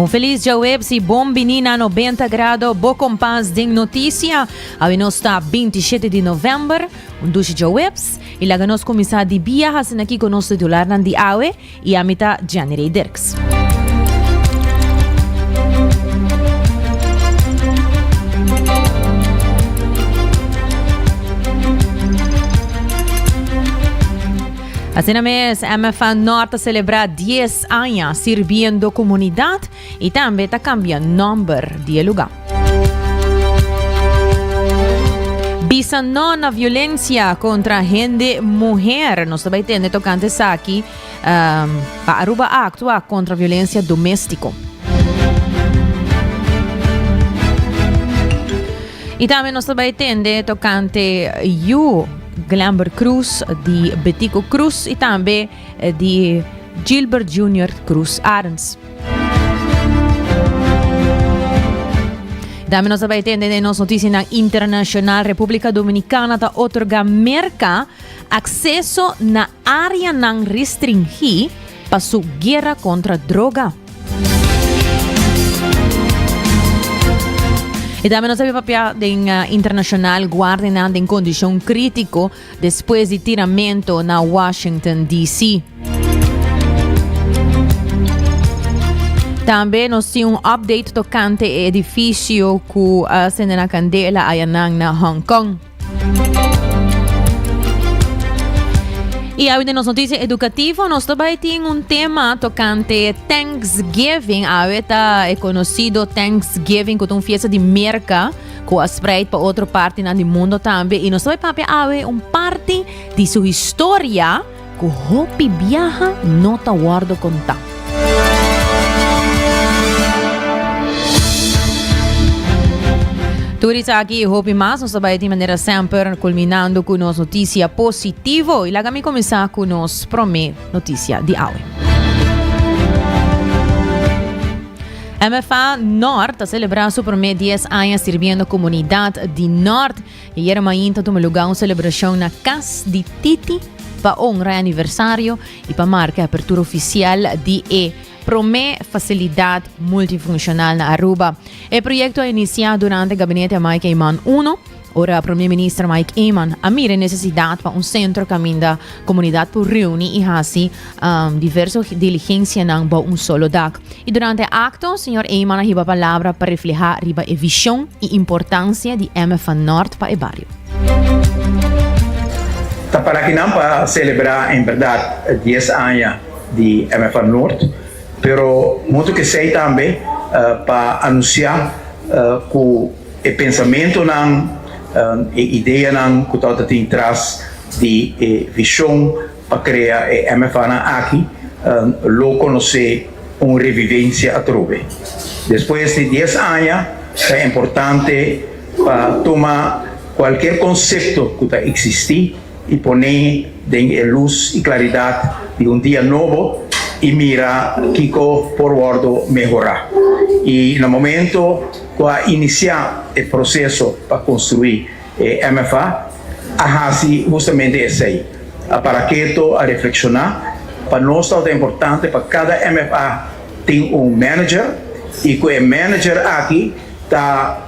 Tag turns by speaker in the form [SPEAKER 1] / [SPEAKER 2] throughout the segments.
[SPEAKER 1] Un feliz Jawebs y bon bini na 90 grado bo kompas den notisia. Awe nos ta 27 di november, un dushi Jawebs y laga nos kuminsá di bia haciendo kiko nos titularnan di awe. Y ami ta Gianny Rey Dirks. Asina mes MFA Nort ta celebra dies aña sirbiendo comunidad. I tambe ta kambia nòmber di e lugá. Bisa no na violensia kontra hende muher. Nos ta bai tende tokante esaki um, pa Aruba a aktua kontra violensia doméstiko. I tambe nos ta bai tende tokante yu Glamber Cruz di Betico Cruz i tambe di Gilbert Junior Cruz Arns. Dame nos bai tende de nos noticianan internacional. República Dominicana ta otorga Merca acceso na área nan restringí pa su guerra contra droga. Y dame nos papia den uh, internacional guardenan den condición crítico Despues di tiramento na Washington, DC. Tambe nos tin un update tocante e edificio cu a uh, sende na candela ayanan na Hong Kong. Y a nos noticia educativo nos tobai tin un tema tocante Thanksgiving. A ta e conocido Thanksgiving, que un fiesta de merca. ku a spreid pa otro partinan di mundo tambe i nos ta bai papia awe un parti di su historia ku hopi biaha no ta wòrdu kontá. Tur esaki i hopi mas nos ta bai tin manera semper kulminando ku nos notisia positivo i laga mi kuminsá ku nos promé noticia di awe. MFA Nort ta celebra su primer 10 aña sirbiendo comunidad di Nort. Y ayer mainta tuma lugar un celebracion na cas di Titi pa honra e aniversario y pa marca e apertura oficial di e prome facilidad multifuncional na Aruba. E proyecto a inicia durante gabinete Amai Caiman uno. Ora Prome Minister Mike Eman a mira e nesesidat pa un sentro kaminda komunidat por reuni i hasi diverso diligensianan bou un solo dak. I durante e akto señor Eman a hiba palabra pa reflehá riba e vishon i importansia di MFA Nort pa e bario.
[SPEAKER 2] Ta parakinan pa selebrá en bèrdat dies aña di MFA Nort, pero modo kesei tambe pa anunsiá ku. E pensamentonan, e ideanan ku ta tabata tin tras di e vishon pa krea e MFAnan aki lo konosé un revivensia atrobe. Despues di dies aña ta importante pa tuma kualker konsepto ku ta eksistí i poné den e lus i klaridat di un dia nobo i mira kiko por wòrdu mehorá. I na momentu. cu a inicia e proceso pa construi e MFA, a haci justamente esey. A para keto, a reflexiona. Pa nos ta importante pa cada MFA tin un manager y cu e manager aki ta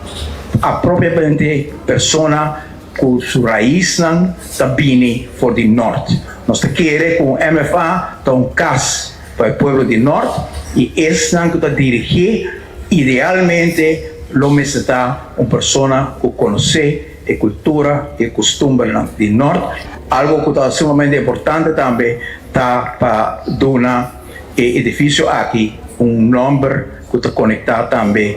[SPEAKER 2] a propiamente persona cu su raiznan ta bini for di Noord. Nos ta kere cu un MFA ta un cas. Pa e pueblo di nort y esnan cu ta dirigé idealmente lo mester ta un persona cu conocé e cultura y e costumbernan di nort. Algo cu ta sumamente importante tambe ta pa duna e edificio aki un nomber cu ta conecta tambe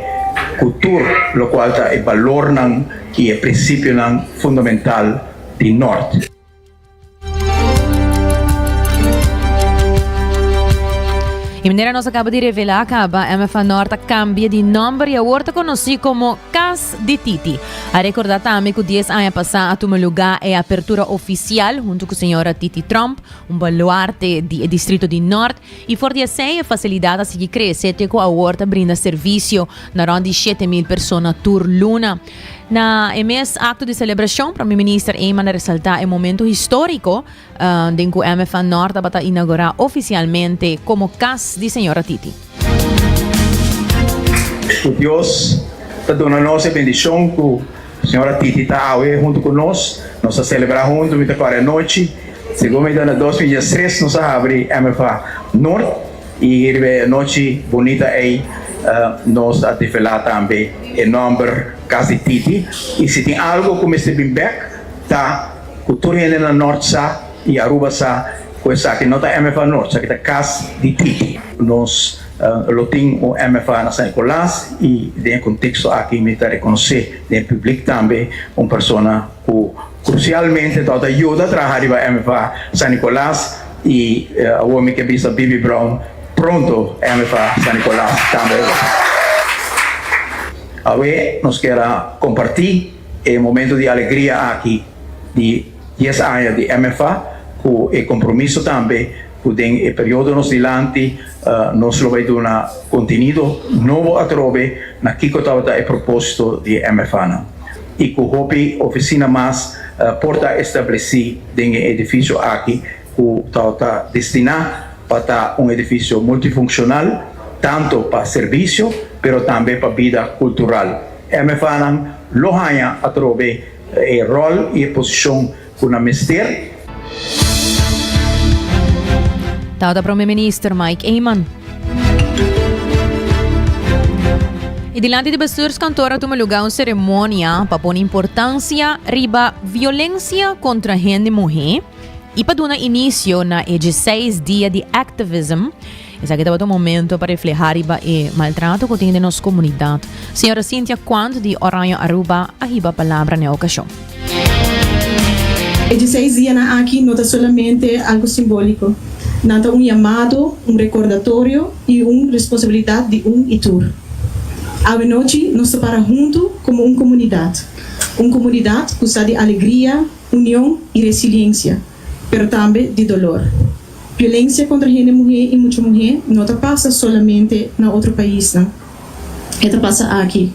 [SPEAKER 2] cu tur locual ta e balornan y e principionan fundamental di nort.
[SPEAKER 1] Y manera nos acaba de revelar, caba MFA Nor ta cambia di nomber y awor ta conoci como Cas di Titi. A recorda tambe cu 10 aña pasa a tuma lugar e apertura oficial hunto cu señora Titi Trump, un baluarte di e distrito di Nort, y for di esey e facilidad a sigui crece te cu awor ta brinda servicio na rond di shete mil persona tur luna. Na e mes acto di celebracion, Prome Minister Eman a resalta e momento historico den cu MFA Nor tabata inaugura oficialmente como cas di Sra. Titi.
[SPEAKER 2] Cu Dios ta duna nos e bendicion cu Sra. Titi ta awe hunto cu nos. Nos ta celebra hunto mitad cu ora e nochi. Segun mi duna dos mil diestres nos a habri MFA Nor. I riba e anochi bunita ei nos a develá tambe e nòmber Kas di Titi. I si tin algu ku mester bin bèk ta ku tur hende na Nòrt sa i Aruba sa ku esaki no ta MFA Nòrt, esaki ta Kas di Titi. Nos lo tin un MFA na San Nikolas i den e konteksto aki mi ta rekonosé den e pùblik tambe un persona ku. Crucialmente ta ta yuda traha riba MFA San Nicolas y awor mi ke bisa Bibi Brown pronto MFA San Nicolas tambe lo ta. Awe nos ker a comparti e momento di alegria aki di dies aña di MFA cu e compromiso tambe cu den e periodonos dilanti nos lo bay duna contenido nobo atrobe na kico tabata e proposito di e MFAnan y cu hopi oficina mas por ta estableci den e edificio aki cu tabata destina pa ta un edificio multifunccional tanto pa servicio pero tambe pa bida cultural. MFAnan lo haya atrobe e rol y e posicion Ku nan mester.
[SPEAKER 1] Tau ta Prome Minister Mike Eman. E dilanti di bestuurskantoor a tuma lugá un seremonia pa pone importansia riba violensia kontra hende muhé i pa duna inisio na e djeseis dia di activism, Esaki tabata un momento pa reflehá riba e maltrato ku tin den nos komunidat. Señora Cynthia Quant di Oranje Aruba a hiba palabra na e okashon. E
[SPEAKER 3] diseis dianan aki no ta solamente algu simbóliko. Nan ta un yamado, un rekordatorio i un responsabilidat di un i tur. Awenochi nos ta para huntu komo un komunidat, un komunidat ku sa di alegria, union i resiliensia, pero tambe di dolor. Violencia contra hende muhe y mucha muhe no ta pasa solamente na otro paisnan. E ta pasa aki,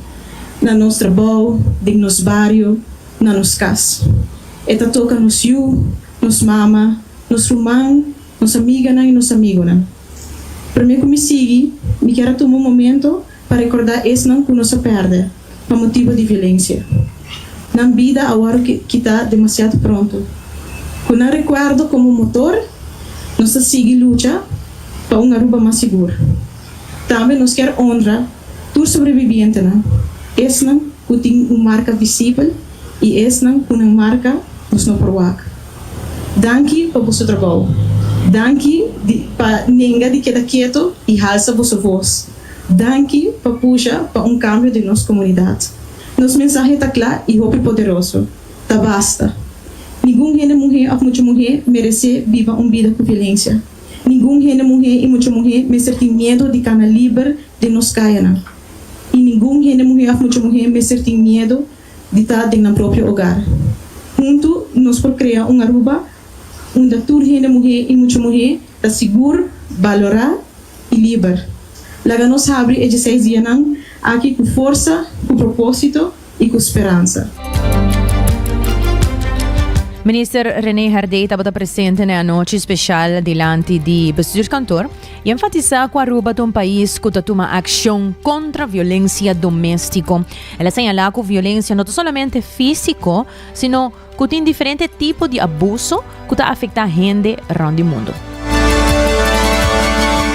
[SPEAKER 3] na nos trabao, den nos bario, na nos cas. E ta toca nos yu, nos mama, nos ruman, nos amiganan y nos amigonan. Prome cu mi sigui, mi kier a tuma un momento pa rekordá esnan ku nos a pèrdè pa motibu di violensia. Nan bida a wòrdu kitá demasiado pronto. Ku nan rekuerdo komo motor, nos ta sigui lucha pa un Aruba mas sigur. Tambe nos kier onra tur sobrebibientenan, esnan ku tin un marka visibel i esnan ku nan marka nos no por wak. Danki pa boso trabou. Danki di pa nenga di keda keto i halsa boso vos. Danki pa pusha pa un kambio den nos komunidat. Nos mensahe ta kla i hopi poderoso, Ta basta! Ningun hende muhé òf mucha muhé meresé biba un bida ku violensia. Ningun hende muhé i mucha muhé mester tin miedu di kana liber den nos kayanan. I ningun hende muhé òf mucha muhé mester tin miedu di ta den nan propio ogar. Huntu nos por krea un Aruba unda tur hende muhé i mucha muhé ta sigur, balorá i liber. Laga nos habri e djeseis dianan aki ku forsa, ku propósito i ku speransa.
[SPEAKER 1] Minister René Herdé tabata presente na e anochi spesial dilanti di Bestuurskantoor i enfatisá ku Aruba ta un pais ku ta tuma akshon kontra violensia doméstiko. El a señalá ku violensia no ta solamente físiko, sino. Ku tin diferente tipo di abuso ku ta afektá hende rònt di mundu.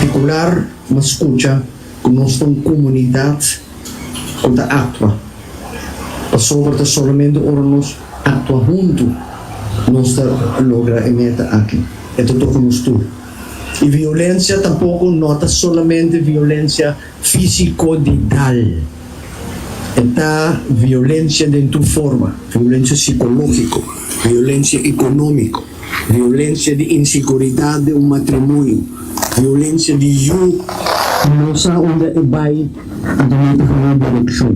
[SPEAKER 4] Titular M'a skucha ku nos ta un komunidat ku ta aktua, pasobra ta solamente ora nos aktua huntu nos ta logra e meta aki. E ta toka nos tur. I violensia tampoko no ta solamente violensia. Físiko di dal. E ta violensia den tur forma, violensia sikológiko, violensia ekonómiko, violensia di inseguridat den un matrimonio, violensia di yu. No sa unda e bai anto no ta haya direkshon.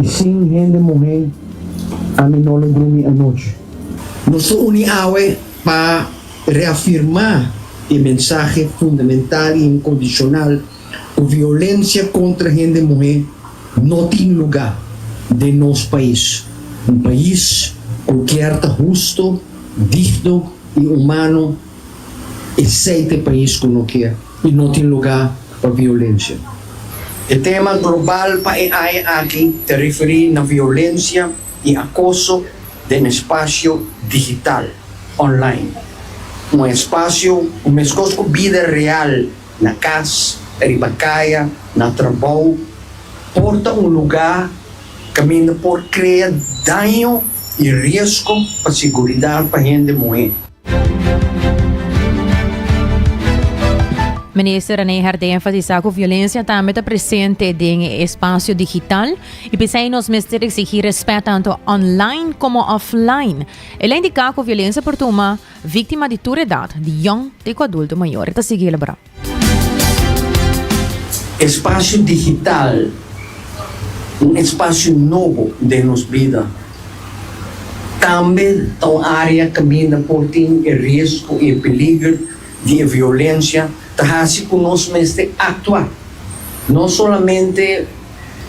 [SPEAKER 4] I sin hende muhé ami no lo drumi anochi. Nos lo uni awe pa Reafirmá e mensahe fundamental i inkondishonal ku violensia kontra hende muhé no tin lugá den nos pais, un pais ku kier ta husto, digno i humano, esei ta e pais ku no ke i no tin lugá pa violensia. E tema global pa e aña aki ta referí na violensia di akoso den espasio digital, online. Un espasio ku meskos ku bida real na kas, riba kaya, na trabou, por ta un lugá kaminda por krea daño i riesgo pa siguridat pa hende muhé.
[SPEAKER 1] Minister Rene Hert a enfasisá ku violensia tambe ta presente den e espasio digital i p'esei nos mester eksigí rèspèt tantu online komo offline. El a indiká ku violensia por tuma víktima di tur edat, di yòn te ku adulto mayor. E ta sigui elaborá.
[SPEAKER 4] Espasio digital, un espasio nobo den nos bida, tambe ta un área kaminda por tin e riesgo i e peliger di e violensia, ta hasi ku nos mester aktua no solamente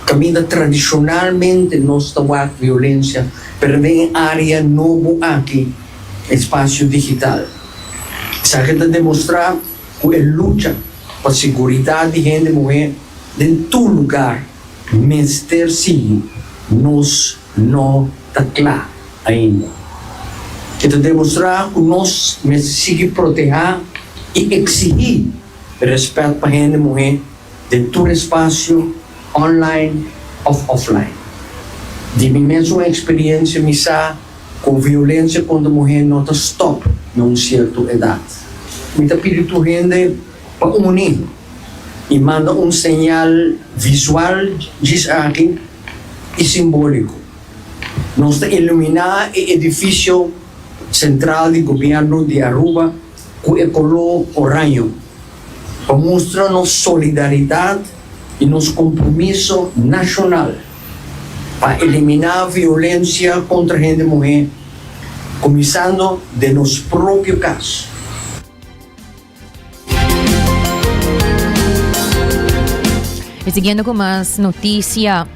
[SPEAKER 4] kaminda tradishonalmente nos ta wak violensia, pero den e área nobo aki, espasio digital. Esaki ta demostrá ku e lucha pa seguridat di hende muhé den tur lugar mester sigui. Nos no ta kla ainda. E ta demostrá ku nos mester sigui protehá i eksigí rèspèt pa hende muhé den tur espasio, online òf offline. Di mi mes un eksperiensia mi sa. Ku violensia kontra muhé no ta stòp na un sierto edat. Mi ta pidi tur hende pa uni i manda un señal visual djis aki i simbóliko. Nos ta iluminá e edifisio sentral di gobièrnu di Aruba ku e koló oraño pa mustra nos solidaridat i nos kompromiso nashonal. pa eliminá violensia kontra hende muhé, kuminsando den nos propio kas.
[SPEAKER 1] E siguiendo cu mas noticia.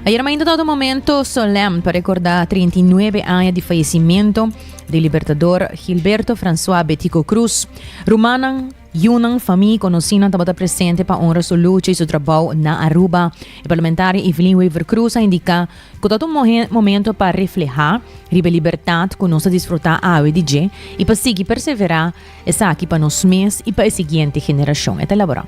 [SPEAKER 1] Ayer mainta ta un momento solemn pa recordá 39 aña di fallecimiento di Libertador Gilberto François Betico Cruz. Rumannan Yunan, famí i konosínan tabata presente pa onra su lucha i su trabou na Aruba. E parlamentaria Evelyn Wever Croes a indiká ku ta ta un mohe momento pa reflehá riba e libertat ku nos ta disfrutá awe di dje i pa sigui perseverá esaki pa nos mes i pa e siguiente generashon, e ta elaborá.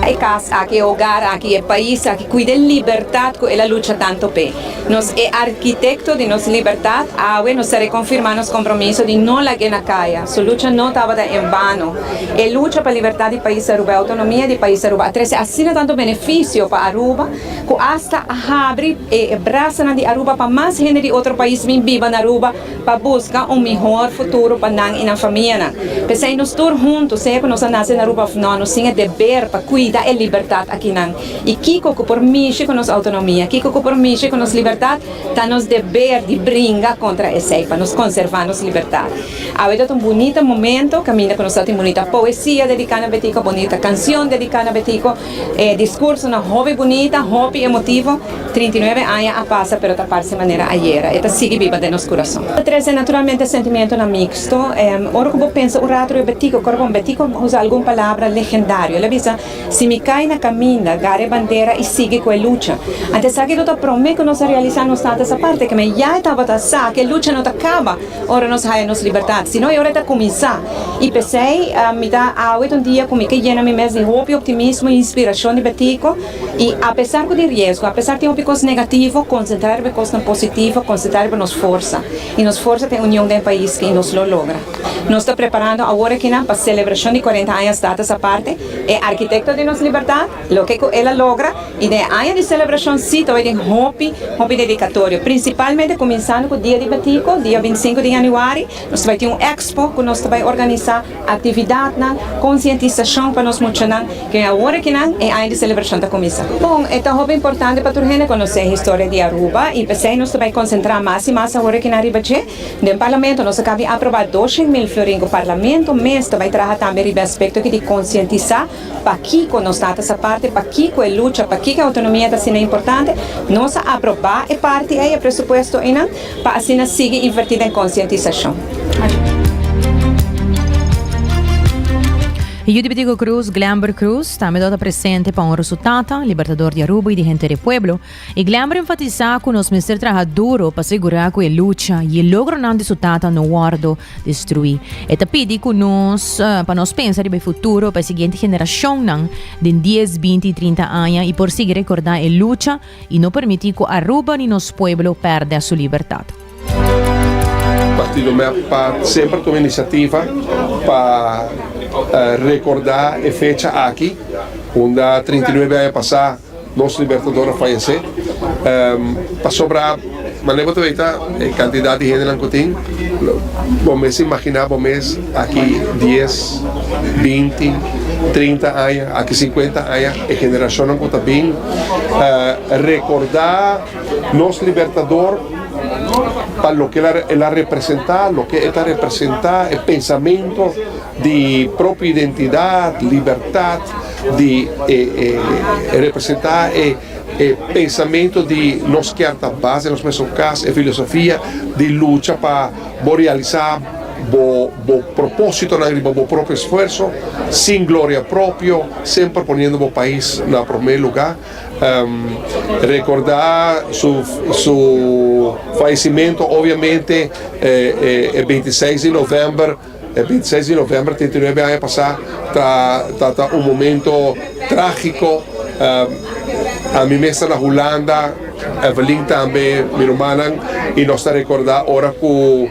[SPEAKER 5] E kas aki, e ogar aki, e pais aki, kuida e libertat ku el a lucha tantu p'e. Nos e arkitekto di nos libertat, awe nos ta rekonfirmá nos kompromiso di no lag'é na kaya. Su lucha no tabata en vano. E lucha pa libertat di Pais Aruba, e outonomia di Pais Aruba a trese asina tantu benefisio pa Aruba ku asta a habri e brasanan di Aruba pa mas hende di otro pais bin biba na Aruba pa buska un mihor futuro pa nan i nan famianan. P'esei nos tur huntu, sea ku nos a nase na Aruba òf nò, nos tin e deber pa kuida e libertat akinan i kiko ku por mishi ku nos outonomia, kiko ku por mishi ku nos libertat, ta nos deber di bringa kontra esei pa nos konservá nos libertat. Awe tabata un bunita momento, kaminda ku nos tabata tin bunita poesia dediká na Betiko, bunita kanshon dediká na Betiko, e diskursunan hopi bunita, hopi emotivo, trinta i nuebe aña a pasa pero ta parse manera ayera, e ta sigui biba den nos kurason. Ta trese naturalmente sentimentonan miksto, ora ku bo pensa un ratu riba Betiko, kor bon Betiko, bo usa algun palabra legendario, el a bisa, Si mi kai na kaminda, gara e bandera i sigui ku e lucha. Ante esaki lo ta promé ku nos a realisá nos Tata esa parti ke men ya e tabata sa ku e lucha no ta kaba ora nos haya nos libertat, sino e ora e ta kuminsá. I p'esei mi ta awit un dia ku mi ke yena mi mes di hopi optimismo i inspirashon di Betico i apesar ku tin riesgo, apesar tin hopi kos negativo, konsentrá riba e kosnan positivo, konsentrá riba nos forsa. I nos forsa ta e union den e pais i nos lo logra. Nos ta preparando awor akinan pa selebrashon di kuarenta añas Tata esa parti E arkitekto di nos libertat, loke ku el a logra, i den e aña di selebrashon si ta bai den hopi, hopi dedikatorio, prinsipalmente kuminsando ku dia di Batiko, dia bintisinku di yanüari, nos ta bai tin un ekspo ku nos ta bai organisá aktividatnan, konsientisashon pa nos muchanan, ku den awor akinan e aña di selebrashon ta kuminsá. Bon, e ta hopi importante pa tur hende konosé historia di Aruba, i p'esei nos ta bai konsentrá mas i mas awor akinan riba dje. Den Parlamento nos a kabi aproba doshen mil florin ku Parlamento mes ta bai traha tambe riba e aspekto aki di konsientisá pakiko nos tata sa parti, pakiko e lucha, pakiko e outonomia ta asina importante. Nos a aproba e parti ei, e presupuesto einan, pa asina sigui invertí den konsientisashon.
[SPEAKER 1] Yu di Bitico Cruz, Glenberg Cruz, tambe do ta presente pa honra su tata, Libertador di Aruba i di henter e pueblo. E Glamber enfatisá ku nos mester traha duro pa segurá ku e lucha i e logronan di su tata no wòrdu destruí. E ta pidi ku nos pa nos pensa riba e futuro pa e siguiente generashonnan den dies, binti i trinta aña i por sigui rekordá e lucha i no permití ku Aruba ni nos pueblo pèrdè su libertat.
[SPEAKER 6] Partido mi a pat semper tuma iniciativa pa recorda e fecha aki unda trinta i nuebe aña pasa nos Libertador a fayece pasobra mane bo ta bay ta e cantidad di hendenan cu tin bo mes a imagina bo mes aki dies binti trinta aña aki cincuenta aña e generacionnan cu ta bin recorda Nos Libertador pa loke el a representa, loke e ta representa, e pensamentu di propio identidad, libertad, di e representa e pensamentu di nos kier ta bas den nos mesun cas, e filosofia di lucha pa bo realisa bo propositonan riba bo propio esfuerso, sin gloria propio, semper poniendo bo pais na prome luga. Recorda su faisimentu obiamente e binti seis di november, e binti seis di november treinta i nuebe aña pasa ta un momento tragico, ami mester na Hulanda, Evelyn tambe, mi rumannan y nos ta recorda ora cu.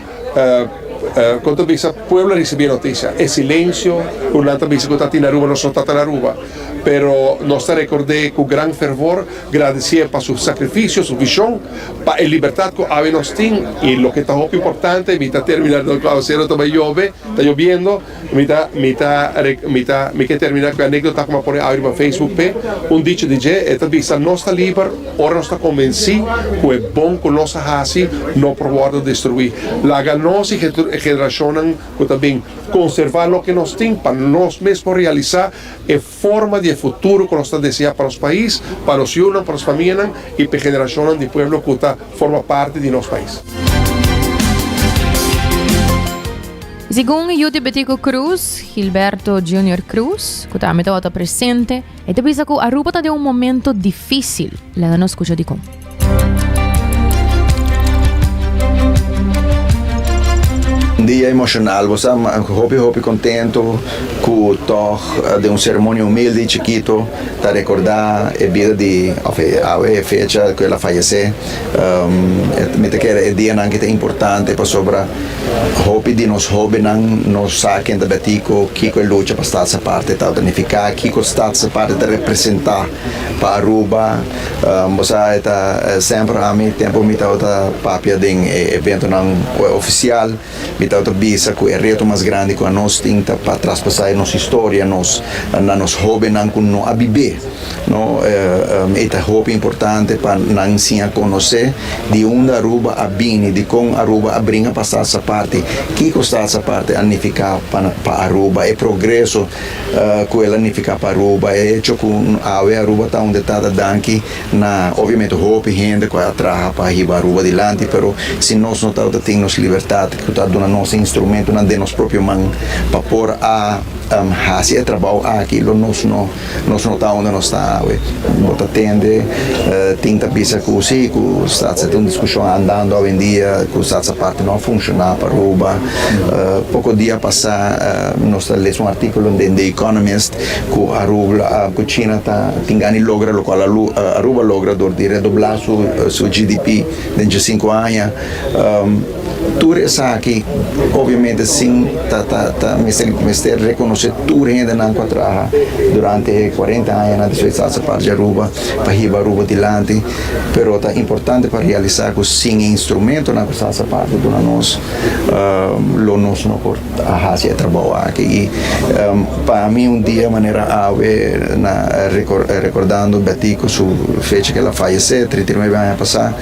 [SPEAKER 6] Kon ta bisa pueblo a risibí e notisia? E silensio ku nan ta bisa ku ta tin Aruba nos no ta ta na Aruba, pero nos ta rekord'é ku gran fervor, gradisié pa su sakrifisio, su vishon, pa e libertat ku awe nos tin. I loke ta hopi importante, mi ta terminá nan ku aguasero ta bai yobe, ta yobiendo. Mi ta, mi ta, mi ta, mi ke termina ku e anekdota ku mi a pone audi pa Facebook p'e. Un dicho di dje, e ta bisa, Nos ta liber ora nos ta konvensí ku e bon ku nos a hasi no por wòrdu destruí. Laga nos i generashonnan ku ta bin konservá loke nos tin pa nos mes por realisá e. forma di e futuro ku nos ta deseá pa nos pais, pa nos yunan, pa nos famianan i pa e generashonnan di pueblo ku ta forma parti di nos pais.
[SPEAKER 1] Segun yu Tibetico Cruz, Gilberto Junior Cruz, ku tambe tabata presente, e ta bisa ku Aruba ta den un momentu difísil. Laga nos skucha dikon.
[SPEAKER 7] Dia emocional, bo sa hopi hopi contento cu tog den un ceremonia humilde y chikito ta recorda e bida di, of e awe e fecha cu el a fayece. Mi ta kere e dianan ki ta importante pasobra hopi di nos hobennan no sa ken ta betico, kico e lucha pa status aparte ta ta nifica, kico status aparte ta representa. Pa Aruba, bo sa e ta semper ami, tempu mi tabata papia den e eventonan ofisial, mi tabata bisa ku e reto mas grandi ku anos tin ta pa traspasá e nos historia nos na nos hóbennan ku no a bibé. No, e ta hopi importante pa nan siña konosé di unda Aruba a bini, dikon Aruba a bringa pa Salsaparty, kiko Salsaparty a nifiká pa Aruba, e progreso Ku el a nifiká pa Aruba. E hecho ku awe Aruba ta unda e ta ta danki na obviamente hopi hende ku a traha pa hiba Aruba dilanti, pero si nos no tabata tin nos libertat ku ta duna nos e instrumentunan den nos propio man pa por a hasi e trabou aki, lo nos no nos no ta unda nos ta awe. Bo ta tende tin ta bisa ku si, ku SADC ta un diskushon andando awendia, ku SADC aparte no a funshoná pa Aruba. Poko dia pasá nos ta lesa un artíkulo den The Economist ku Aruba, China ta tin gani logra lokal Aruba logra dor di redoblá su GDP den dje sinku aña. Tur esaki obiamente sin ta ta ta mester rekonosé tur hendenan ku a traha durante e kuarenta añanan di su estada parti di Aruba pa hiba Aruba dilanti, pero ta importante pa realisá ku sin e instrumentonan ku sa sa parti duna nos, um, lo nos no por a hasi e trabou aki. I um, pa mi un dia manera awe na record, recordando Betico su fecha que la fallece, 39 aña pasa,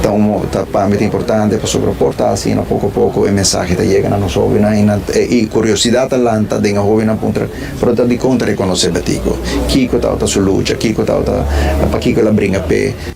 [SPEAKER 7] ta, un, ta pa mi ta importante pasobra por ta así na poco a poco e mensaje ta llega na nos jovenan i, na, i curiosidad ta lanta den e jovenan puntra, pero ta di conta reconoce Betico, kiko tawata su lucha, kiko tawata, pa kiko la bringa pe.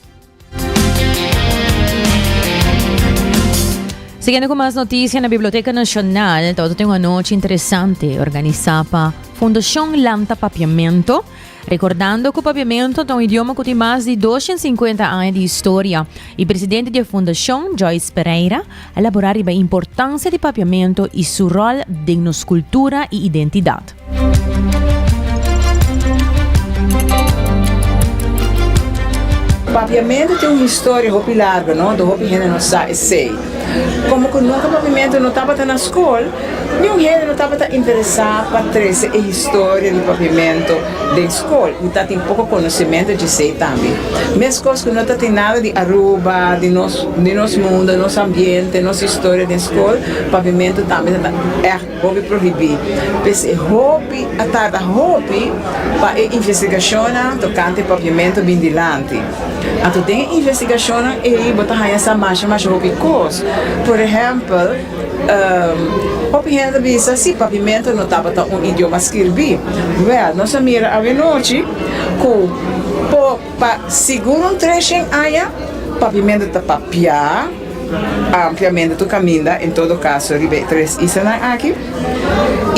[SPEAKER 1] Siguiendo cu mas noticia na Biblioteca Nacional, tabata tin un anochi interesante organisa pa Fundacion Lanta Papiamento, recordando cu Papiamento ta un idioma cu tin mas di 250 aña di historia y presidente di e fundacion, Joyce Pereira, Elaborá riba e importansia di Papiamentu i su ròl den nos kultura i identidat.
[SPEAKER 8] Papiamentu tin un historia hopi largu no do hopi hende no sa esei. Komo ku nunka Papiamentu no tabata na skol, niun hende no tabata interesá pa trese e historia di Papiamentu. Den skol mi ta tin poko konosementu djesei tambe. Mes kos ku no ta tin nada di Aruba, di nos di nos mundo, nos ambiente, nos historia den skol, pavimentu tambe ta ègt hopi prohibí. P'esei hopi a tarda hopi pa e investigashonnan tokante pavimentu bin dilanti. Anto den e investigashonnan ei bo ta haña sa masha masha hopi kos. Por ehèmpel. Hopi hende bisa si pavimento no tabata un idioma skirbí. Wèl, nos a mira awenochi ku por pa sigur un treshen aña pavimento ta papiá ampliamente tur kaminda, en todo kaso riba e tres islanan aki,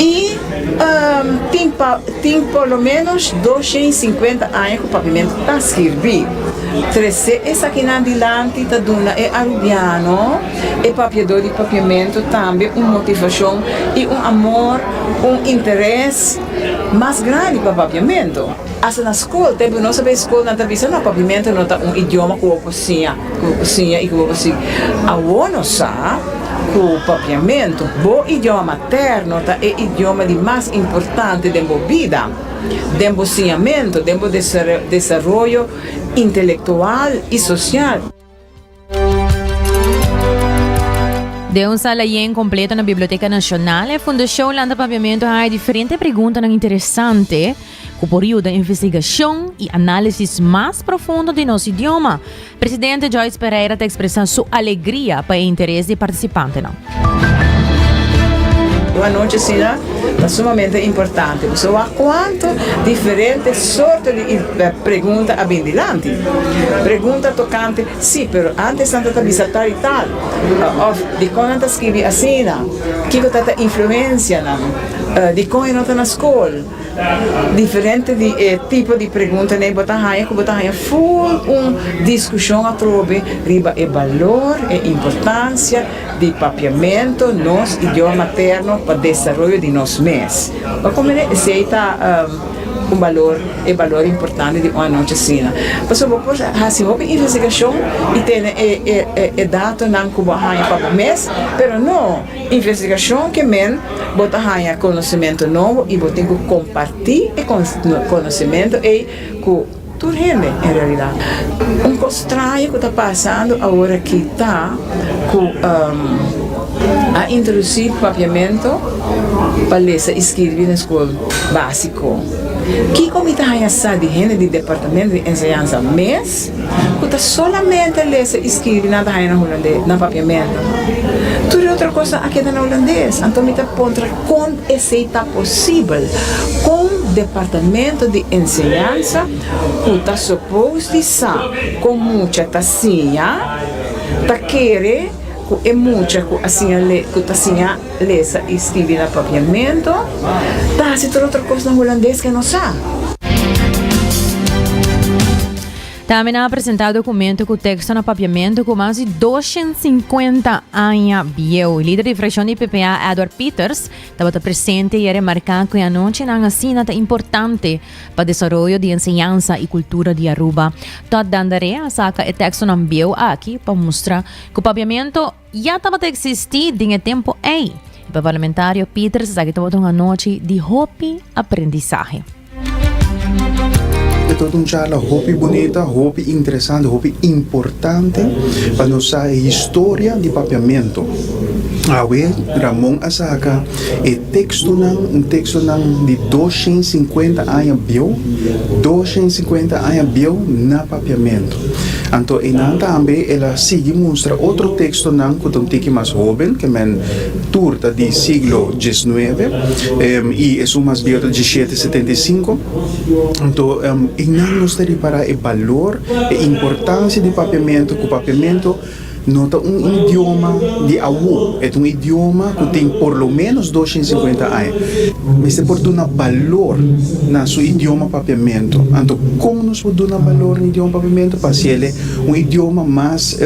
[SPEAKER 8] i tin pa tin por lo ménos doshen i sinkuenta aña ku pavimento ta skirbí. Trese esakinan dilanti ta duna e arubiano. E papiadó di papiamentu tambe un motivashon i un amor, un interes mas grandi pa papiamentu. Asta na skol, tempu ku nos ta bai skol nan ta bisa no papiamentu no ta un idioma ku bo por siña, ku bo por siña i ku bo por siña. Awor nos sa ku papiamentu, bo idioma materno, ta e idioma di mas importante den bo bida, den bo siñamentu, den bo desaroyo intelektual i sosial.
[SPEAKER 1] Den un sala yen kompleto na Biblioteka Nashonal, e Fundashon lanta papiamentu haya diferente preguntanan interesante ku por yuda investigashon i análisis mas profundo di nos idioma. Presidente Joyce Pereira ta ekspresá su alegria pa e interes di partisipantenan.
[SPEAKER 8] Un anochi asina ta sumamente importante pasobra bo a kuantu diferente sorto di pregunta a bin dilanti. Pregunta tokante si, pero antes nan ta ta bisa tal i tal òf dikon nan ta skibi asina, kiko ta ta influensia nan, dikon e no ta na skol. Diferente di e tipo di pregunta n'ey bo ta haña cu bo ta haña full un discusion atrobe riba e balor, e importancia di papiamento nos idioma materno pa desaroyo di nos mes. Pa cu mire esey ta un balor, e balor importante di un anochi asina. Pasobra bo por haci hopi investigacion y tene e datonan cu bo a haña pa bo mes, pero no. Investigashon ke men bo ta haña konosementu nobo i bo tin ku kompartí e konosementu ei ku tur hende en realidat. Un kos straño ku ta pasando aworakí ta ku a introdusí papiamentu pa lesa i skirbi na skol básiko. Kiko mi ta haña sa di hende di Departamentu di Enseñansa mes? ku ta solamente lesa i skirbi nan ta haña na hulandes, na papiamentu. Tur e otro kos nan a keda na hulandes. Anto mi ta puntra kon esei ta posibel, kon departamento di enseñansa ku ta supos di sa kon mucha ta siña ta kere ku e mucha ku a siña le ku ta siña Lesa i skibi na papiamentu. Ta hasi tur otro kos na hulandes ke no sa.
[SPEAKER 1] Tambe nan a presentá dokumento ku teksto na papiamentu ku mas di doshent sinkuenta aña bieu. Lider di frakshon di PPA, Edward Pieters, tabata presente i a remarká ku e anochinan asina ta importante pa desaroyo di enseñansa i kultura di Aruba. Todd Dandare a saka e tekstonan bieu aki pa mustra ku papiamentu, Ya tabata eksistí den e tempu ei, i pa parlamentario Pieters esaki tabata un anochi di hopi aprendisahe.
[SPEAKER 9] E tabata un charla hopi bunita, hopi interesante, hopi importante pa nos sa e historia di Papiamentu. Awe Ramon a saka e tekstonan, un tekstonan di dos shent sinkuenta aña bieu, dos shent sinkuenta aña bieu na Papiamentu. Anto einan tambe el a sigui mustra otro tekstonan ku ta un tiki mas hóben, ke men tur ta di siglo diesnuebe i esun mas bieu ta diesiete setenta i sinku. Anto einan nos ta ripará e balor, e importansia di papiamentu, ku papiamentu, No ta un idioma di awo, e ta un idioma ku tin por lo ménos dos shen sinkuenta aña. Mester por duna balor na su idioma papiamentu. Anto kon nos por duna balor na idioma papiamentu pa hasi el e un idioma mas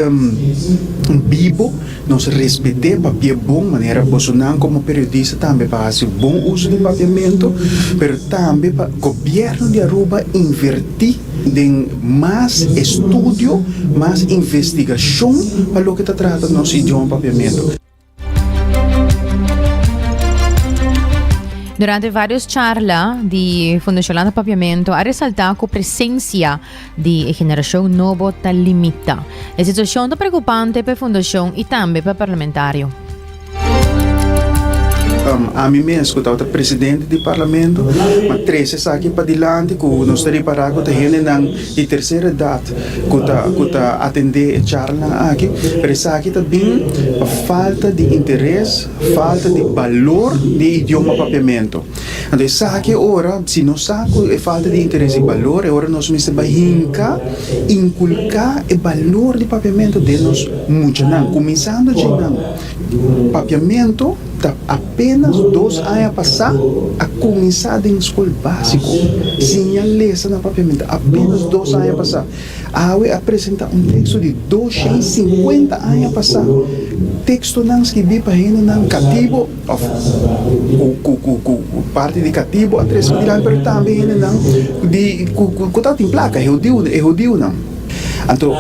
[SPEAKER 9] bibo? Nos respet'é papia bon manera bosonan komo periodista tambe pa hasi bon uso di papiamentu, pero tambe pa gobièrnu di Aruba invertí. Den mas estudio, mas investigashon pa loke ta trata nos idioma Papiamentu.
[SPEAKER 1] Durante varios charla di Fundacion Holanda Papiamento a resalta cu presencia di e generacion nobo ta limita. E situacion ta preocupante p'e Fundacion y tambe p'e parlamentario.
[SPEAKER 9] Ami mes ku tabata presidente di parlamento a trese esaki padilanti ku nos ta repará ku ta hendenan di tercera edad ku ta ku ta atendé e charlanan aki pero esaki ta bin pa falta di interes falta di balor di e idioma papiamento. Anto esaki e ora, si nos sa cu e falta di interes i balor, e ora nos mester bai hinca inculca e balor di papiamento den nos muchanan, cuminsando dje nan. Papiamento ta apenas dos aña pasa a cuminsa den scol basico. Siña lesa na papiamento apenas dos aña pasa. Awe a presenta un texto di doscientscincuenta aña pasa. Textonan skibi pa hendenan catibo. òf ku parti di katibu a tres mil al, pero tambe hendenan ku tabatin plaka, e hudiunan. Anto,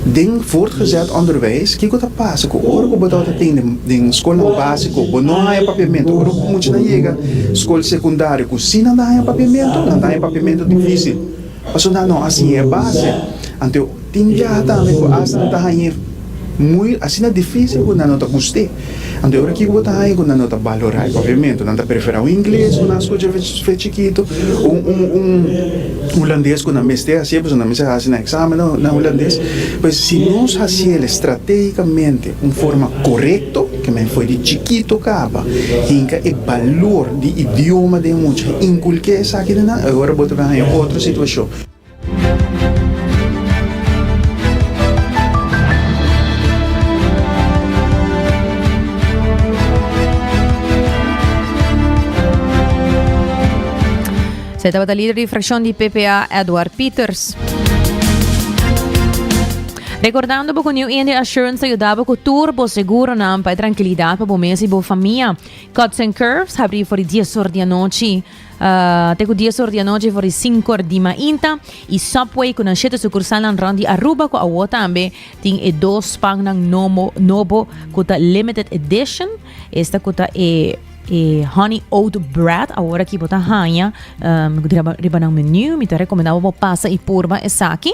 [SPEAKER 9] den voortgezet onderwijs, kiko ta pasa ku ora ku bo tabata tende den skolnan básiko, bo no haña papiamentu, ora ku muchanan yega skol sekundario ku si nan ta haña papiamentu, nan ta haña papiamentu difísil. Paso nan no hasi e base, anto tin biaha tambe ku asta nan ta hañ'é muy asina difísil ku nan no ta gust'é. Anto e ora kiko bo ta haña ku nan no ta balor'é e papiamentu? Nan ta preferá un ingles ku nan a skucha fe chikitu o un un un hulandes ku nan mester hasié pasobra nan mester hasi nan eksamen na hulandes. Pues si nos hasiel estrategikamente un forma korekto. Kmen fo'i di chikito kaba hinka e balor di idioma den mucha, a inkulk'é esaki den nan, oe ora bo ta bin haña otro situashon. Esei
[SPEAKER 1] tabata lider di fraccion di PPA Edward Pieters. Rekordando bo ku New India Assurance ta yuda bo ku tur bo seguronan pa e trankilidat pa bo mes i bo famia. Cuts and Curves habri for di dies or di anochi ah, te ku dies or di anochi for di sinku or di mainta i Subway ku nan shete sukursalnan rond di Aruba ku awor tambe tin e dos pannan nomo nobo ku ta limited edition esta ku ta e e honey oat bread awor aki bo ta haña ah, mi ku di riba riba nan menu mi ta rekomendá bo bo pasa i purba esaki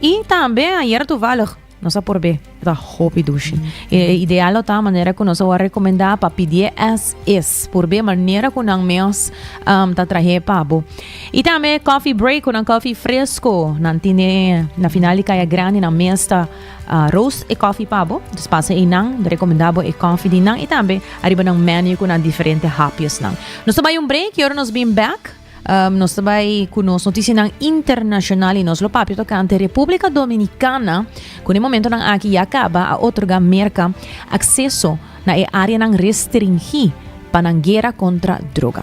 [SPEAKER 1] I tambe ayer tuvallig nos a por be ta hopi dushi. E ideal lo ta manera ku nos a rekomendá pa pidi as is por be manera ku nan mes um, ta trahe pabo. I tambe coffee break ku nan coffee fresco nan tine na final di kaya grande nan mes ta uh, roast e coffee pabo. Dus pasa e nan rekomendá bo e coffee di nan i tambe arriba nan menu ku nan diferente hapjes nan. Nos ta bai un break, yoro nos bin back. Um, nos ta bai ku nos notisianan internashonal i nos lo papia tokante Repúblika Dominikana ku ne momentonan aki ya kaba a otorga Merka akseso na e áreanan restringí pa nan guera kontra droga.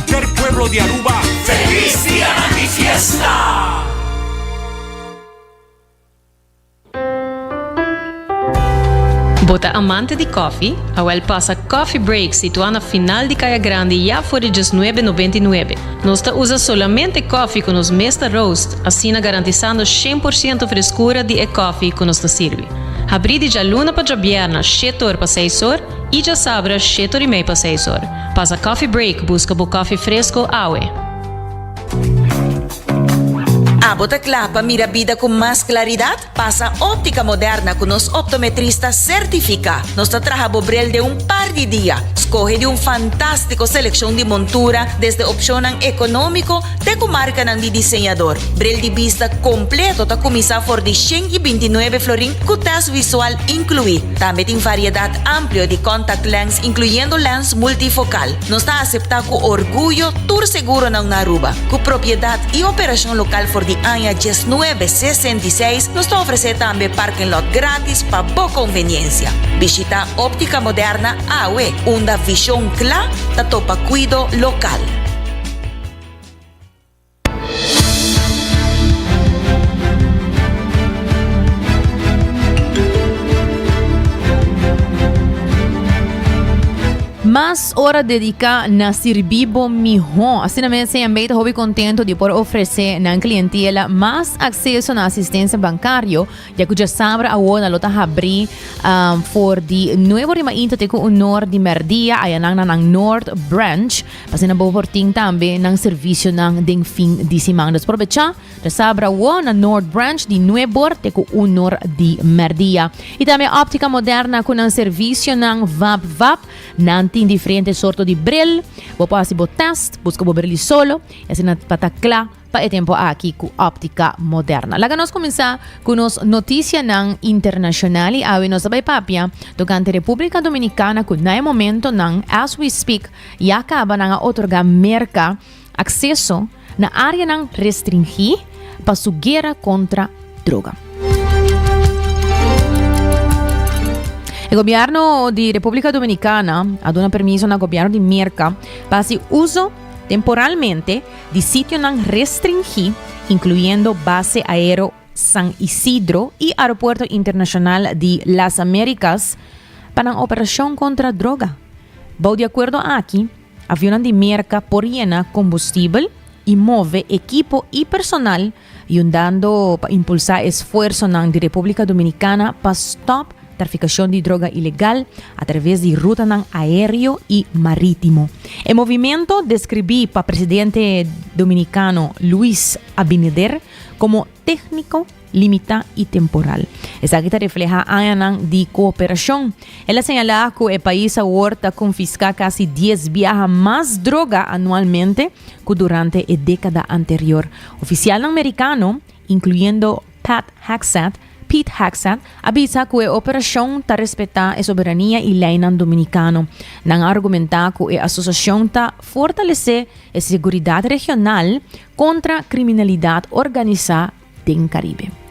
[SPEAKER 10] per pueblo di Aruba
[SPEAKER 11] Feliz dia nan di fiesta.
[SPEAKER 12] Bo ta amante di kòfi? Awèl pasa Coffee Break situá na final di Kaya Grandi ya for di diesnuebe nobenta i nuebe. Nos ta usa solamente kòfi ku nos mes ta roast, asina garantisando shen por siento freskura di e kòfi ku nos ta sirbi. Habrí di djaluna pa djabièrna, shet or pa seis or. I djasabra sheto rimei pa seis or. Pasa coffee break buska bo coffee fresco awe.
[SPEAKER 13] Abo ta kla pa mira bida ku mas klaridat? Pasa Optica Moderna ku nos optometrista sertifiká. Nos ta traha bo bril den un par di dia. Skohe di un fantástiko selekshon di montura desde opshonnan ekonómiko Te ku markanan di diseñador. Bril di bista kompleto ta kuminsá for di shen i binti nuebe florin ku tèst visual inkluí. Tambe tin variedat amplio di contact lens inkluyendo lens multifokal. Nos ta aseptá ku orguyo tur seguronan na Aruba. Ku propiedat i operashon lokal for di aña diesnuebe sesenta i seis nos ta ofresé tambe parking lot gratis pa bo konveniensia. Bishitá Óptica Moderna awe unda vishon kla ta topa kuido lokal.
[SPEAKER 1] Mas ora dedica na sirbi bo miho. Asina mes CMB hobi contento di por ofrece nan clientela mas acceso na asistencia bancario. Ya cuja sabra awo na lota habri um, for di nuevo rima inta te cu honor di merdia ayanan na nan North Branch. Asina bo por tin tambe nan servisionan den fin di siman. Dus probecha resabra awó na Noord Branch di nuep or te ku un or di mèrdia. I tambe Optica Moderna ku nan servisionan vap vap. Nan tin diferente sorto di bril. Bo por hasi bo tèst, buska bo bril di solo i asina pa ta kla pa e tempo aki cu Optica Moderna. Laga nos cuminsa cu nos noticianan internacional y awe nos ta bay papia tocante Republica Dominicana cu na e momento nan, as we speak, ya caba nan a otorga Merca acceso na areanan restringi pa su guera contra droga. E gobierno di Republica Dominicana a duna permiso na gobierno di Merca pa haci uso temporalmente di sitionan restringí, incluyendo Base Aero San Isidro y Aeropuerto Internacional di Las Americas, pa nan operacion contra droga. Bou di acuerdo aki, avionnan di Merca por yena combustibel y move ekipo y personal yundando pa impulsá esfuersonan di Repúblika Dominikana pa stòp trafikashon di droga ilegal atraves di rutanan aéreo i marítimo. E movimento deskribí pa presidente dominikano Luis Abinader komo tékniko, limitá i temporal. Esaki ta reflehá añanan di kooperashon. El a señalá ku e pais awor ta konfiská kasi dies biaha mas droga anualmente ku durante e dékada anterior. Ofisialnan Merikano, inkluyendo Pat Hegseth, Pete Hegseth, a bisa ku e operashon ta respetá e soberania i leinan dominikano. Nan a argumentá ku e asosiashon ta fortalesé e seguridat regional kontra kriminalidat organisá den Karibe.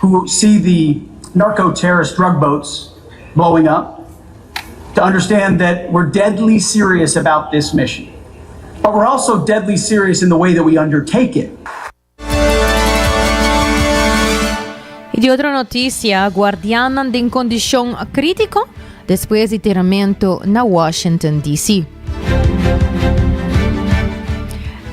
[SPEAKER 14] Cu si di narco terrorist drug boats blowing up to understand that we're deadly serious about this mission but we're also deadly serious in the way that we undertake it.
[SPEAKER 1] Y di otro noticia, guardiannan den condicion critico despues di tiramento na Washington, DC.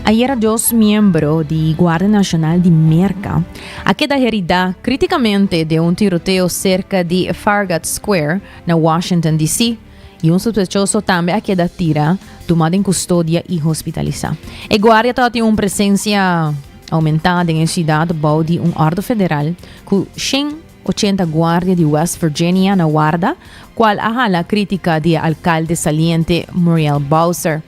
[SPEAKER 1] Ayera dos miembro di Guardia Nacional di Merca a keda heridá krítikamente den un tiroteo serka di Farragut Square na Washington, DC. i un suspechoso tambe a keda tira, tumá den kustodia i hospitalisá. E guardia ta tin un presensia oumentá den e siudat bou di un òrdu federal ku shen ochenta guardia di West Virginia na warda, kual a hala krítika di e alkalde saliente Muriel Bowser.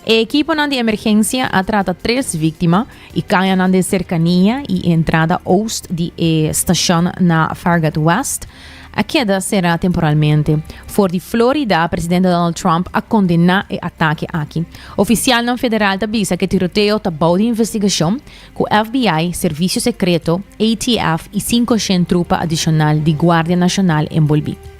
[SPEAKER 1] E ekiponan di emergensia a trata tres víktima E kayanan den serkania y e entrada oost di e stashon na Farragut West a keda será temporalmente. For di Florida, presidente Donald Trump a condena e atake aki. Oficialnan federal ta bisa cu e tiroteo ta bou di investigacion, cu FBI, Servicio Secreto, ATF y cinco shen trupa adicional di Guardia Nacional enbolbi.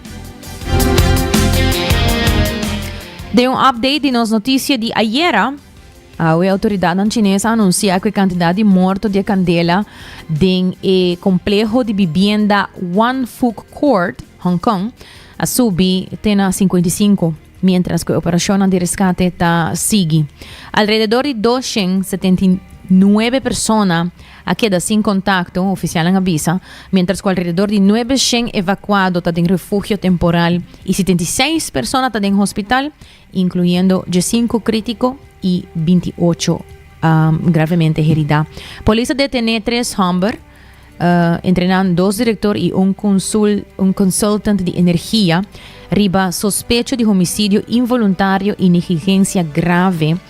[SPEAKER 1] Den un update di nos noticia di ayera, awe autoridadnan chines a anuncia cu e cantidad di morto di e candela den e complejo di bibienda Wan Fook Court, Hong Kong, a subi te na 55, mientras cu e operacionnan di rescate ta sigui. Alrededor di 279 persona a keda sin kontakto, ofisialnan a bisa, miéntras ku alrededor di nuebe shen evakuado ta den refugio temporal i sitenta i seis persona ta den hospital, inkluyendo diesinku krítiko i binti i ocho gravemente heridá. Polis a detené tres hòmber, entre nan dos direktor i un konsul un konsultant di energia, riba sospecho di homisidio involuntario i negligensia grave,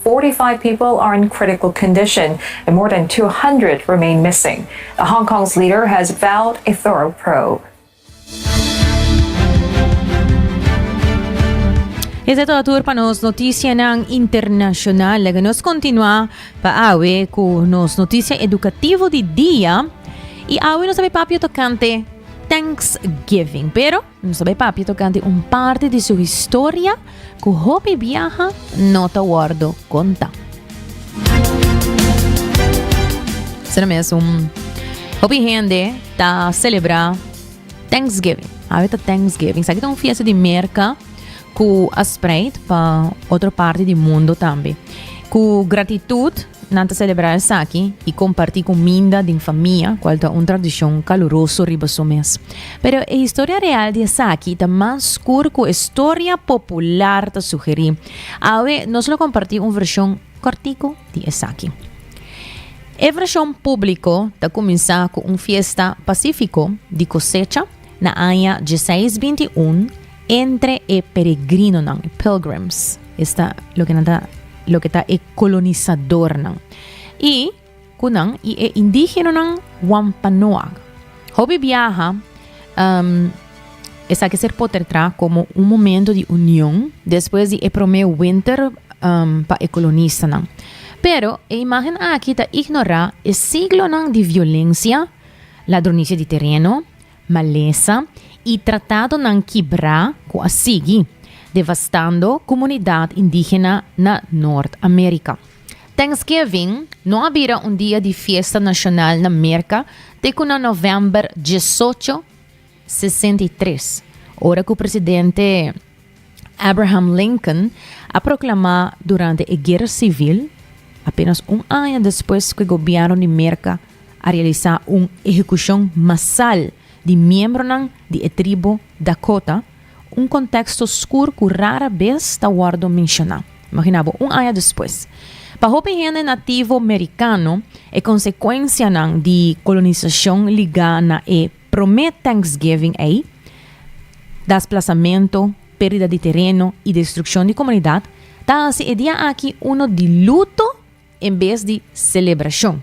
[SPEAKER 15] Forty five people are in critical condition and more than two hundred remain missing. The Hong Kong's leader has vowed a thorough probe.
[SPEAKER 1] Esei todo tur pa nos noticianan internacional. Laga nos continua pa awe cu nos noticia educativo di dia. Y awe nos a papia tocante Thanksgiving. Pero. Nos ta bai papia tocante un parte di su historia cu hopi biaha no ta wordo conta. Sena mesum, hopi hende ta celebra Thanksgiving. Awe ta Thanksgiving. Saki ta un fiesta di Merca cu a spreid pa otro parte di mundo tambe. Cu gratitud Nan ta selebrá esaki i kompartí kuminda den famia, kual ta un tradishon kaluroso riba su mes. Pero e historia real di esaki ta mas skur ku e storia popular ta sugerí. Awe nos lo kompartí un vershon kòrtiku di esaki. E vershon públiko ta kuminsá ku un fiesta pasífiko di kosecha na aña djeseis binti un, Entre e peregrinonan, e pilgrims, esta loke nan ta loke ta e kolonisadornan. I ku nan i e indígenonan Wampanoag. Hopi biaha um, esaki ser potertrá komo un momento di union despues di e promé winter um, pa e kolonistanan. Pero e imágen aki ta ignorá e siglonan di violensia, ladronicia di tereno, Malesa y tratadonan kibra cu a sigui, devastando comunidad indigena na Noord-America. Thanksgiving no a bira un dia di fiesta nacional na Merca te cu na November diesocho sesenta i tres, ora cu presidente. Abraham Lincoln a proklamá durante e Guera Sivil, apénas un aña despues ku e gobièrnu di Merka a realisá un ehekushon masal di miembronan di e tribu Dakota, un konteksto skur ku rara bes ta wòrdu menshoná. Imaginá bo, un aña despues. Pa hopi hende nativo merikano, e konsekuensianan di kolonisashon ligá na e. Promé Thanksgiving ei, desplasamento, perdida di tereno i destrukshon di komunidat, ta hasi e dia aki uno di luto en bes di selebrashon.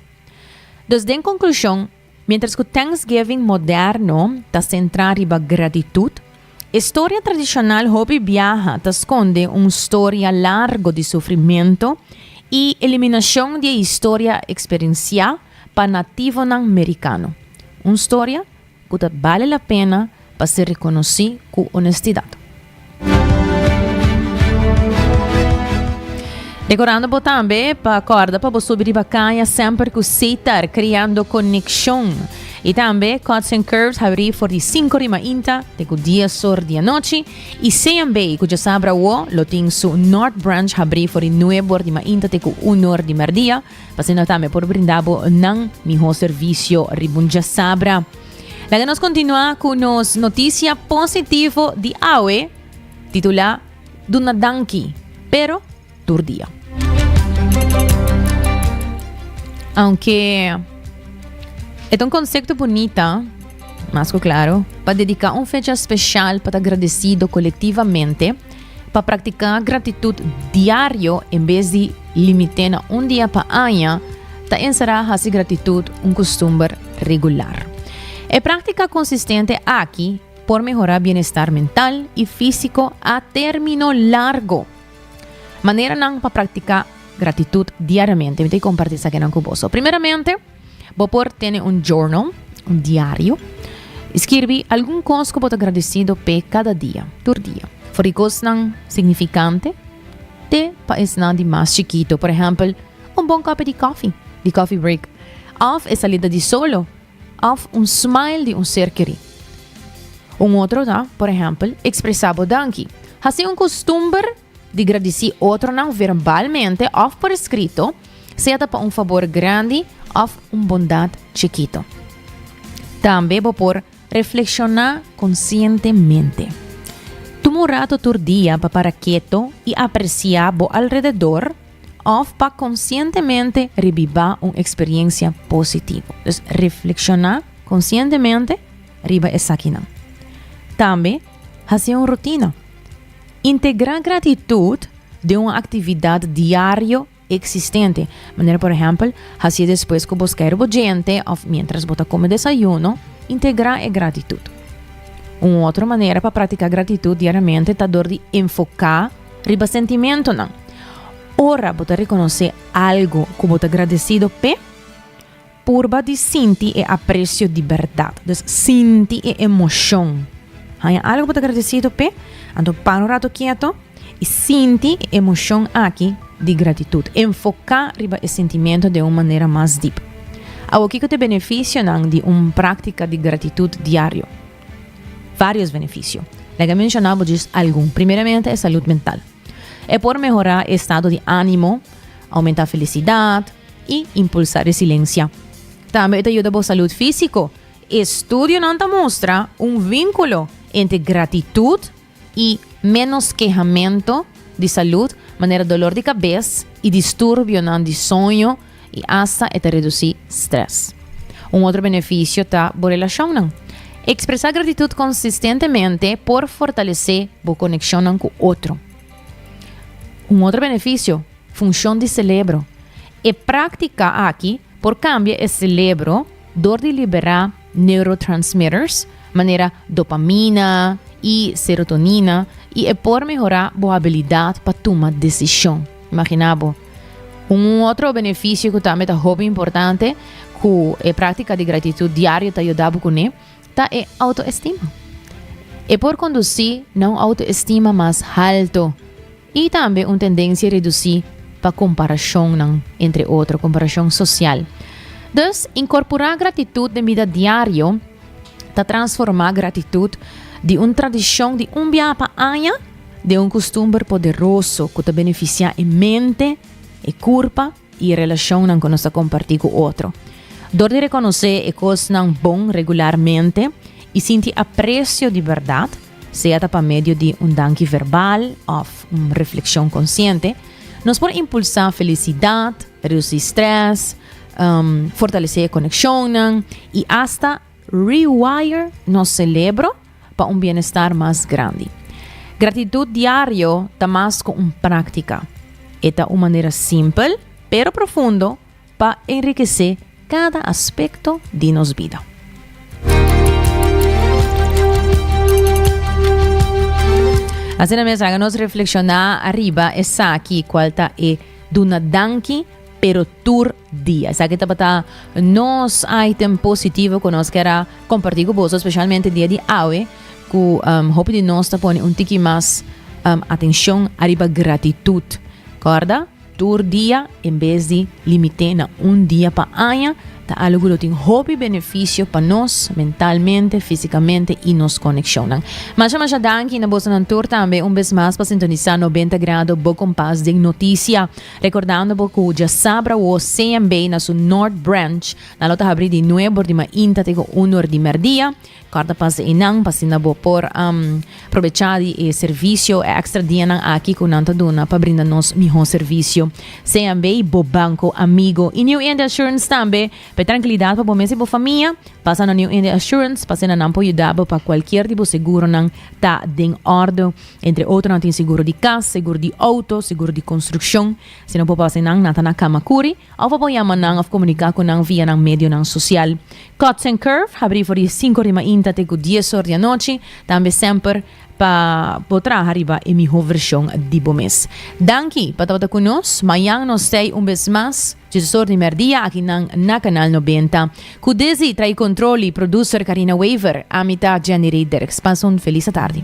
[SPEAKER 1] Dus den konklushon, miéntras ku Thanksgiving moderno ta sentrá riba gratitut, e storia tradishonal hopi biaha ta skonde un storia largo di sufrimentu i eliminashon di e historia eksperensiá, Pa nativonan merikano. Un storia ku ta bale la pena pa ser rekonosí ku onestidat. Rekorando bo tambe pa kòrda pa bo subi riba kaña semper ku sitar kreando konekshon. I tambe Cuts and Curves habrí for di sinku di mainta te ku dies or di anochi, i Sean Bay ku djasabra awó lo tin su North Branch habrí for di nuebe or di mainta te ku unu or di mèrdia. Pa asina tambe por brinda bo nan miho servisio riba un diasabra. Laga nos kontinuá ku nos notisia positivo di awe, titulá Duna danki, pero tur dia. Aunke e ta un konsepto bunita, mas ku klaro, pa dediká un fecha speshal pa ta gradesido kolektivamente, Pa praktiká gratitut diario en bes di limit'é na un dia pa aña, ta enserá hasi gratitut un kustumber regular. E práktika konsistente aki por mehorá bienestar mental i físiko a término largo. Maneranan pa praktiká gratitut diariamente, mi ta kompartí esakinan ku boso. Primeramente, Bo por tene un journal, un diario, y skirbi algun kos ku bo ta gradesido pe kada dia, tur dia. For di kosnan signifikante te pa esnan di mas chikito, por ehempel, un bon kopi di kofi, di coffee break, of e salida di solo, of un smile di un ser keri. Un otro ta, por ehempel, ekspresá bo danki. Hasi un kustumber di gradisí otronan verbalmente òf por eskrito, sea ta pa un fabor grandi òf un bondat chikito. Tambe bo por reflekshoná konsientemente. Tuma un rato tur dia pa para keto i apresiá bo alrededor òf pa konsientemente rebibá un eksperiensia positivo. Dus reflekshoná konsientemente riba esakinan. Tambe. Hasi un rutina. Integrá gratitut den un aktividat diario eksistente, manera por ehèmpel, hasi e despues ku bo skèr bo djente òf miéntras bo ta kome desayuno, integrá e gratitut. Un otro manera pa praktiká gratitut diariamente ta dor di enfoká riba sentimentonan. Ora bo ta rekonosé algu ku bo ta gradesido p'e, Purba di sinti e aprecio di berdad. Dus sinti e emocion. Haña algo pa ta agradecido pe, anto para un rato kieto y sinti e emocion aki di gratitud. Enfoca riba e sentimiento den un manera mas diep. Awor kiko t'e beneficionan di un practica di gratitud diario? Varios beneficio. Like a menciona bo djis algun. Primeramente e salud mental. E por mehora e estado di animo, aumenta felicidad, i impulsá resilensha. Tambe e ta yuda bo salud físiko. Estudionan ta mustra un vínkulo entre gratitut i ménos kehamentu di salud, manera dolor di kabes i disturbionan di soño, i asta e ta redusí strès. Un otro benefisio ta bo relashonnan. Ekspresá gratitut konsistentemente por fortalesé bo konekshonnan ku otro. Un otro benefisio Funcion di celebro. E practica aki por cambia e celebro door di libera neurotransmitters manera dopamina y serotonina y e por mehora bo habilidad pa tuma decision. Imagina bo. Un otro beneficio cu tambe ta hopi importante cu e practica di gratitud diario ta yuda bo cune ta e autoestima. E por conduci na un autoestima mas halto. I tambe un tendensia redusí pa komparashonnan, entre otro komparashon sosial. Dus, inkorporá gratitut den bida diario ta transformá gratitut di un tradishon di un biaha pa aña den un kustumber poderoso ku ta benefisiá e mente, e kurpa i e relashonnan ku nos ta kompartí ku otro. Dor di rekonosé e kosnan bon regularmente i sinti apresio di bèrdat, Sea ta pa medio di un danki verbal òf un reflekshon konsiente, nos por impulsá felisidat, redusí strès, fortalesé e konekshonnan i asta rewire nos selebro pa un bienestar mas grandi. Gratitut diario ta mas ku un práktika. E ta un manera simpel pero profundo pa enrikesé kada aspekto di nos bida. Asina mes, laga nos reflekshoná ariba esaki kual ta e duna danki pero tur dia. Esaki tabata nos item positivo ku nos kera kompartí ku boso, spesialmente dia di awe, ku um, hopi di nos ta pone un tiki mas um, atenshon ariba gratitut. Korda? Tur dia, en bes di limit'é na un dia pa aña, ta algu ku lo tin hopi benefisio pa nos, mentalmente, físikamente i nos konekshonnan. Masha masha danki na bosonan tur tambe un bes mas pa sintonisá Nobenta Grado, bo kompas den notisia. Rekordando bo ku djasabra wo CMB na su North Branch nan lo ta habrí di nuebordimainta te ku unordimerdia. Corta pas de einan pa asina bo por um, probecha di e servicio, e extra dianan aki cu nan ta duna pa brinda nos miho servicio. Sean bay bo banco amigo y New India Assurance tambe. P'e trankilidad pa bo mes y bo famia, pasa na New India Assurance pa asina nan por yuda bo pa cualkier di bo seguronan ta den orde. Entre otro nan tin seguro di cas, seguro di auto, seguro di construccion. Si no bo pasa einan, nan ta na cama curi. Of a por yama nan of komuniká ku nan via nan medionan sosial. Cuts and Curve habrí for di sinku di mainta te ku dies or di anochi, tambe semper pa bo traha riba e mihó vershon di bo mes. Danki pa tabata ku nos, mañan nos stay un bes mas Jesus or di mèrdia aki nan na Kanal Nobenta. Ku desi tra'i kontrol i produser Karina Wever, ami ta Jenny Rey Derks. Pasa un felis atardi.